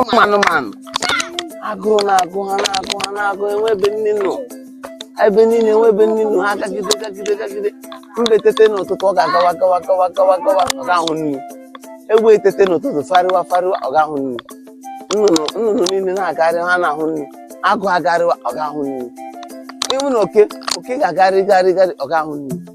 ụmụ anụmanụ agụụ na-agụ ha na-agụ ha na-agụ enwe ebe nri nọ ebe niile enwe ebe nri nọ ha gagide gagide gagide mbe tete n'ụtụtụ ọ ga-agawa gawa gawa gawa gawa ọ ga-ahụ nri egbe etete n'ụtụtụ fegharịwa fegharịwa ọ ga-ahụ nri nnụnụ nnụnụ niile na-agagharị ha na-ahụ nri agụ agharịwa ọ ga-ahụ nri ịhụ na oke oke ga-agharị gharị gharị ọ ga-ahụ nri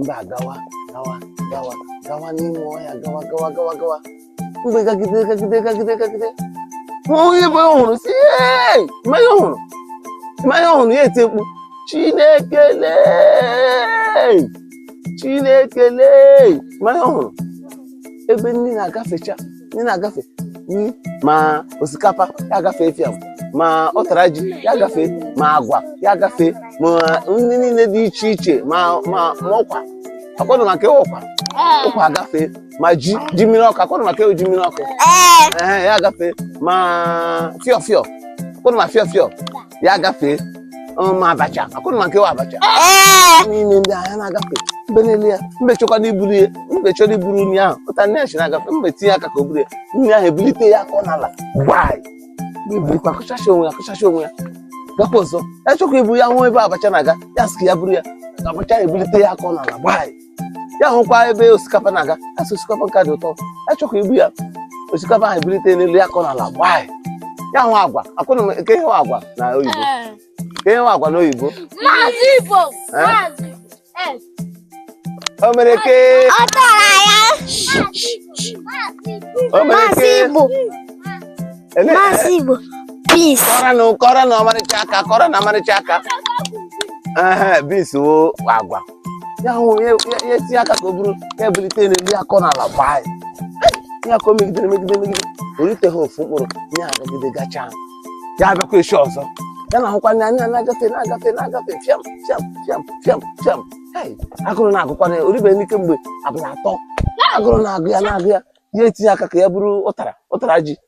mbe agawa gawa gawa gawa n'ime ọhịa gawa gawa gawa gawa mbe gagide gagide gagide gagide o nwee ebe ọ hụrụ sị ụnụ ma ihe ọ hụrụ ụnụ ma ihe ọ hụrụ ya eti mkpu chineke lee chineke lee ụnụ ma ihe ọ hụrụ ebe nri na-agafecha nri na-agafe nri ma osikapa ya agafe fiam ma ụtara ji ya agafe ma agwa ya agafe ma nri niile dị iche iche ma ma ma ụkwa ọ kwa ụnụ ma nke wụ ụkwa ụkwa agafe ma ji ji mmiri ọkụ ọ kwa ụnụ ma nke wụ ji mmiri ọkụ Ee. ehe ya agafe ma fịọ fịọ ọ kwa ụnụ ma fịọ fịọ ya gafee ma abacha ọ kwa ụnụ ma nke wụ abacha niile ndị a na-agafe mbe na-ele ya mbe chọkwanụ iburu ya mbe chọrọ iburu nri ahụ ụtara ji na-agafe mbe tinye aka ka o buru ya nri ahụ ebulite ya kụọ n'ala gbaa ebilikwa akụchacha onwe ya akụchacha onwe ya gakwa ọzọ ya chọkwa ibu ya hụ ebe abacha na-aga ya sị ka ya buru ya abacha ebulite ya kụọ n'ala gbaa ya hụkwa ebe osikapa na-aga ya sị osikapa nka dị ụtọ ya chọkwa ibu ya osikapa ahụ ebulite n'elu ya kụọ n'ala gbaa ya hụ agwa ọ kwa ụnụ ma nke wụ agwa na oyibo nke wụ agwa na oyibo Maazị Igbo. Eh? Maazị. Eh. o mere ke Ọ tara ya. o mere Maazị ke Igbo. ele- Maazị Igbo. Beans. kụọrọnụ ya kụọrọnụ ya ọmarịcha aka kụọrọnụ ya ọmarịcha aka ehe beans wụ agwa ya hụ ya etinye aka ka o buru ya ebulite n'elu ya akụọ n'ala gbaa ya ihe a ka o megidere megide megide o riteghị ofu mkpụrụ ya agagide gachaa ya abịakwa echi ọzọ ya na-ahụkwa ya ya na-agafe na-agafe na-agafe fiam fiam fiam fiam fiam hei agụrụ na-agụkwa ya o ribe nri kemgbe abalị atọ agụrụ na-agụ ya na-agụ ya ya etinye aka ka ya buru ụtara ụtara ji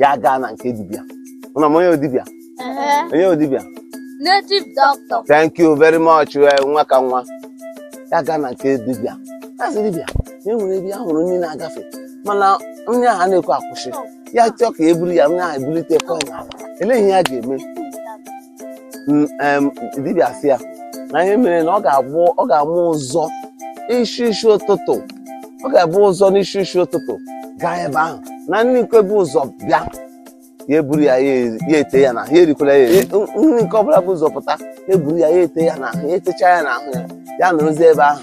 ya gaa na nke dibịa ụnụ ma onye wụ dibịa onye wụ dibịa native doctor thank you very much eh, nwa ka nwa ya gaa na nke dibịa ya sị dibịa na enwere ebe ya hụrụ nri na-agafe mana nri ahụ na-ekwe akwụsị ya chọọ ka e buru ya nri ahụ ebulite kụọ ya elee ihe ya ga-eme dibịa sị ya na ihe mere na ọ ga-abụ ọ ga-amụ ụzọ isi isi ụtụtụ ọ ga-ebu ụzọ n'isi isi ụtụtụ gaa ebe ahụ na nri nke bu ụzọ bịa ya eburu ya ya ete ya n'ahụ ya erikwala ya eri nri nke ọbụla bu ụzọ pụta ya eburu ya ya ete ya n'ahụ ya etecha ya n'ahụ ya ya nọrọzie ebe ahụ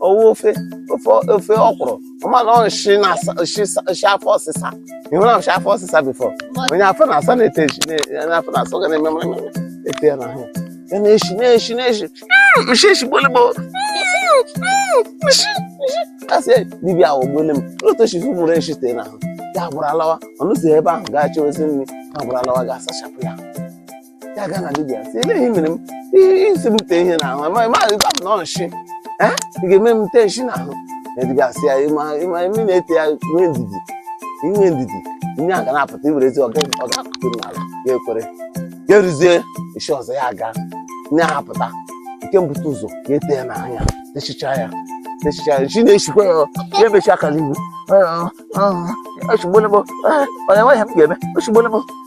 ọ wụ ofe ofe ofe ọkwụrụ ọ ma na ọ shi na shi shi afọ ọsịsa ị hụla nshi afọ ọsịsa before onye afọ na-asa na-ete ji na- onye afọ na-asa ga na-eme mara mara ete ya n'ahụ ya na-eshi na-eshi na-eshi Mm, nshi eshigbuole m o nshi nshi asị dibịa ahụ gbole m otu oshi fụmụrụ eshi tee n'ahụ ya gbụrụ alawa ọ nọzi ebe ahụ gaa chewezi nri ya gbụrụ alawa ga-asachapụ ya ya gaa na dibịa sị ele ihe mere m ihe isi m tee ihe n'ahụ amaghị m ahụ ịbam na ọ nshi Eh? ị ga-eme m tee nshi n'ahụ na dibịa sị ya ịma ịma imi na-ete ya nwee ndidi inwe ndidi ihe a ga na-apụta i werezi ọga ọ ga-apụta m n'ala ya ekwere ya eruzie eshi ọzọ ya aga ihe a apụta nke mbute ụzọ ya ete ya n'anya techicha ya techicha ya shi na-eshikwa ya ya emechi aka n'ihu eshigbuola m onye nwaanyị m ga-eme eshigbuola m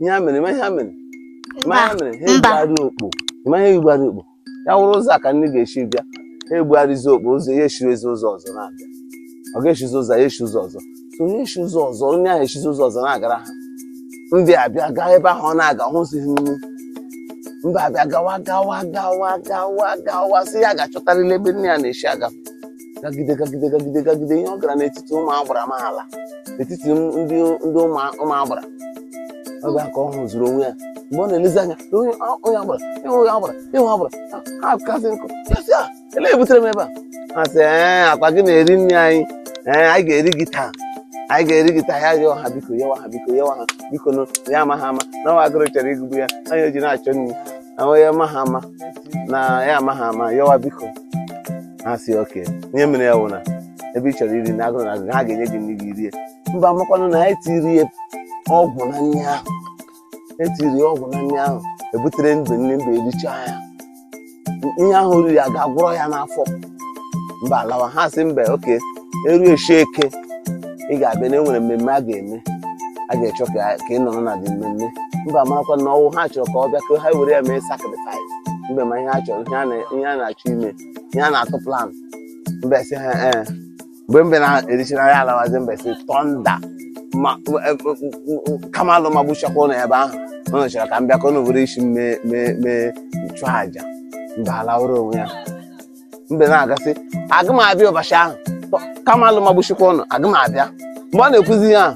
ihe ha mere ị ma ihe ha mere ị ma ihe ha mere ha mba. ebugharị okpo ị ma ihe ebugharị okpo ya wụrụ ụzọ a ka nri ga-esi bịa ha ebugharịzi okpo ụzọ ya eshirezi ụzọ ọzọ na-abịa ọ ga-eshizi ụzọ ya eshi ụzọ ọzọ so onye eshi ụzọ ọzọ onye ahụ eshizi ụzọ ọzọ na-agara ha mbe abịa gaa ebe ahụ ọ na-aga hụzighị nri mbe abịa gawa gawa gawa gawa gawa sị ya ga-achọtarịla ebe nne ya na-eshi agafe gagide gagide gagide gagide ihe ọ gara n'etiti ụmụ agbara ma ala n'etiti m- ndị ndị ụmụ ụmụ agbara ọ bịa ka ọ hụzuru onwe ya mgbe ọ na-elezi anya na onye ọ- onye agbara ịhụ onye agbara ịhụ agbara ha kasị nkụ ya sị a ole butere m ebe a ha sị ee ọ kwa gị na-eri nri anyị ee anyị ga-eri gị taa anyị ga-eri gị taa ya rịọ ha biko yọwa ha biko yọwa ha bikonụ ya amaghị ama na ọ wụ agụrụ chọrọ ịgụgbu ya ọ ya o ji na-achọ nri ahụ ya amaghị ama na ya amaghị ama yọwa biko ha sị okay ihe mere ya wụ na ebe ị chọrọ iri na agụrụ na agụrụ ha ga-enye gị nri gị rie mbe amakwanụ na etiri ya ọgwụ na nri ahụ etiri ya ọgwụ na nri ahụ e buterenụ nri mbe erichaa ya ihe ahụ riri a ga-agwọrọ ya n'afọ mbe alawa ha sị mbe okay eru eshi eke ị ga-abịa na enwere mmemme a ga-eme a ga-achọ ka ka ị nọrọ na the mmemme mbe marakwa na ọ wụ ha chọrọ ka ọ bịa ka ha were ya mee sacrifice mbe ma ihe ha chọrọ ihe a na- ihe a na-achọ ime ya na-atụ plan mbe sị ha ee eh. mgbe mbe na-erichara ya alawazi mbe sị thunder eh, Kamalụ magbuchakwa ụnụ ebe ahụ ụnụ chọrọ ka m bịa ka ụnụ were isi m chụọ aja mbe alawụrụ onwe ya mbe na-aga sị aga m abịa ụbọchị ahụ Kamalụ magbuchikwa ụnụ aga m abịa mgbe ọ na-ekwuzi ya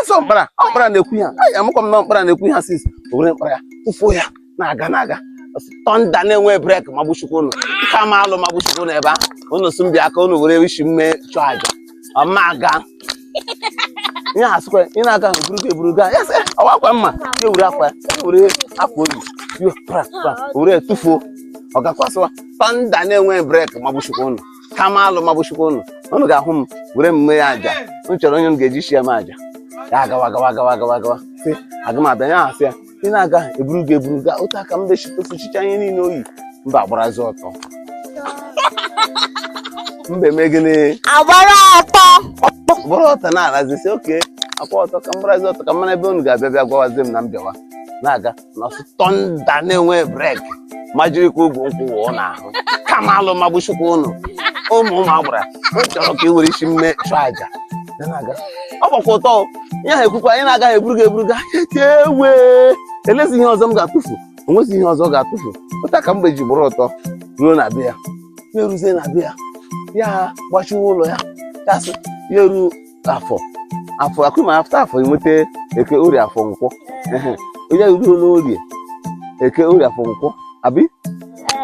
eze ọkpara ọkpara na-ekwu ya ya amụkwa m na ọ mkpara na-ekwu ya sis o were mkpara ya tụfuo ya na-aga na-aga thunder na-enwe brake magbuchikwa ụnụ Kamalụ magbuchikwa ụnụ ebe ahụ ụnụ sị m bịa ka ụnụ were isi m chụọ aja ọma aga ihe asịkwa ị na-aga eburugo eburugo ya sị ọ wụ akwa mma ya were akwa ya were akwa o yi yo pra pra were tụfuo ọ gakwa sịwa thunder na-enwe brake magbuchikwa ụnụ Kamalụ magbuchikwa ụnụ ụnụ ga-ahụ m were mme ya aja m chọrọ onye m ga-eji isi ya m aja ya agawa gawa gawa gawa gawa sị aga m abịa ya asị ya ị na-aga eburu gị eburu gaa otu a ka mbe ji tụfuchicha ihe niile o yi mbe agbarazi ọtọ mbe eme gịnị agbara ọtọ bụrụ ọtọ na-alazi sị okay akwa ọtọ ka m gbarazi ọtọ ka m mara ebe unu ga-abịa bịa gwawazie m na m bịawa na-aga na-asị thunder na-enwe brake majirikwa ugwu nkwụ wụọ n'ahụ Kamalụ magbuchikwa ụnụ ụmụ ụmụ agbara m chọrọ ka ị were isi mme chụọ aja Ya na-aga. ọ gbakwa ọtọ o. ihe ahụ ekwukwa ya ị na-agaghị eburu gị eburu gaa mbe elezi ihe ọzọ ọ ga-atụfu o nwezi ihe ọzọ ọ ga-atụfu otu a ka mbe ji bụrụ ọtọ ruo na be ya ya eruzie na be ya ya gbachiwa ụlọ ya ya sị ya eru afọ afọ akwa ịma after afọ enweta eke orie afọ nkwọ Ehe. onye ahụ ruo n'orie eke orie afọ nkwọ abi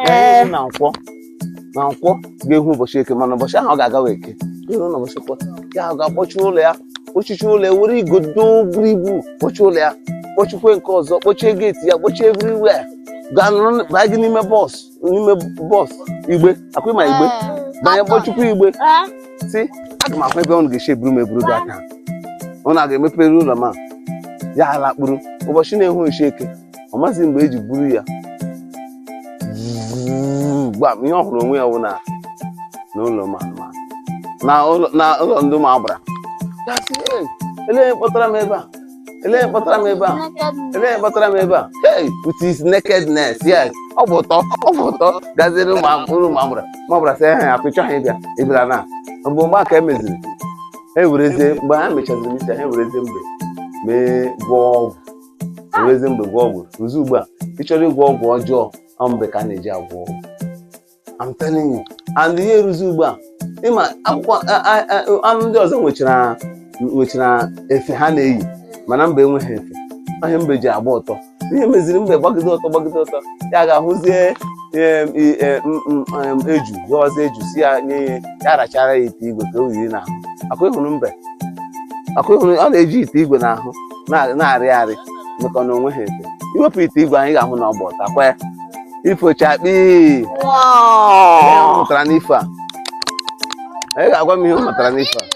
Ee, na nkwọ na nkwọ ga-ehu ụbọchị eke mana ụbọchị ahụ ọ ga-agawa eke iru na ụbọchị nkwọ ya ahụ ga-akpọchi ụlọ ya kpọchichi ụlọ ya were igodo buru ibu kpọchi ụlọ ya kpọchikwe nke ọzọ kpọchie gate ya kpọchie everywhere gaa nọrọ baa gị n'ime box n'ime box igbe akwa ịma igbe banye kpọchikwu igbe sị aga m ahụ ebe ụnụ ga-esi eburu m eburu gaa ka ụnụ ga-emepere ụlọ m a ya alakpuru ụbọchị na-ehu echi eke ọ maghịzi mgbe eji buru ya gbam ihe ọ hụrụ onwe ya wụ na n'ụlọ ma na ụlọ ndị ụmụ agbara elee kpọtara m ebe a elee kpọtara m ebe a elee kpọtara m ebe a hey with his nakedness yes ọ bụ ọtọ ọ bụ ọtọ gaziri ụlọ ụmụ agbara sị ya akwa ịchọghị ịbịa ịbịara na mbe mgbe a ka emeziri e werezie mbe ha mechaziri isi ha ewerezie mbe mee gwọọ ọgwụ ewerezie mbe gwọọ ọgwụ ruzi ugbu a ị chọrọ ịgwọ ọgwụ ọjọọ ọ mbe ka a na-eji agwọ ọgwụ I'm telling you and ihe eruzi ugbu a ịmakwa anụ ndị ọzọ nwechara nwechara efe ha na-eyi mana mbe enweghị efe ọ ihe mbe ji agba ọtọ ihe meziri mbe gbagide ọtọ gbagide ọtọ ya ga-ahụzie eju gọwazie eju sị ya nye ihe ya rachara ya ite igwe ka o yiri n'ahụ akwa ịhụrụ mbe akwa ịhụrụ ọ na-eji ite igwe n'ahụ na- na-arị arị maka na o nweghị efe iwepụ ite igwe anyị ga-ahụ na ọ gba ọtọ kwa ya ifo chakpii ihe ọ mụtara n'ifo a onye ga-agwa m ihe ọ mụtara n'ifo a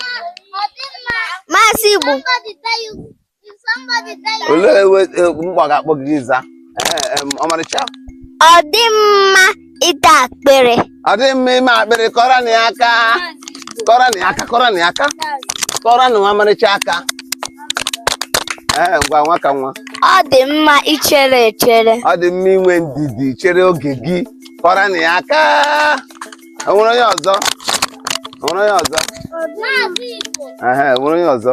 Maazị Igbo olee ewe- e- mgbe a ga-akpọ gị gị za Ee, em, ọmarịcha Ọ dị mma ịta akpịrị ọ dịghị mma ime akpịrị kụọrọ nụ ya aka kụọrọ nụ ya aka kụọrọ nụ ya aka kụọrọ nụ nwa ọmarịcha aka ee ngwa nwa ka nwa ọ dị mma ichere echere ọ dị mma inwe ndidi chere oge gị kụọrọ nụ ya aka o nwere onye ọzọ o nwere onye ọzọ Ehe, o nwere onye ọzọ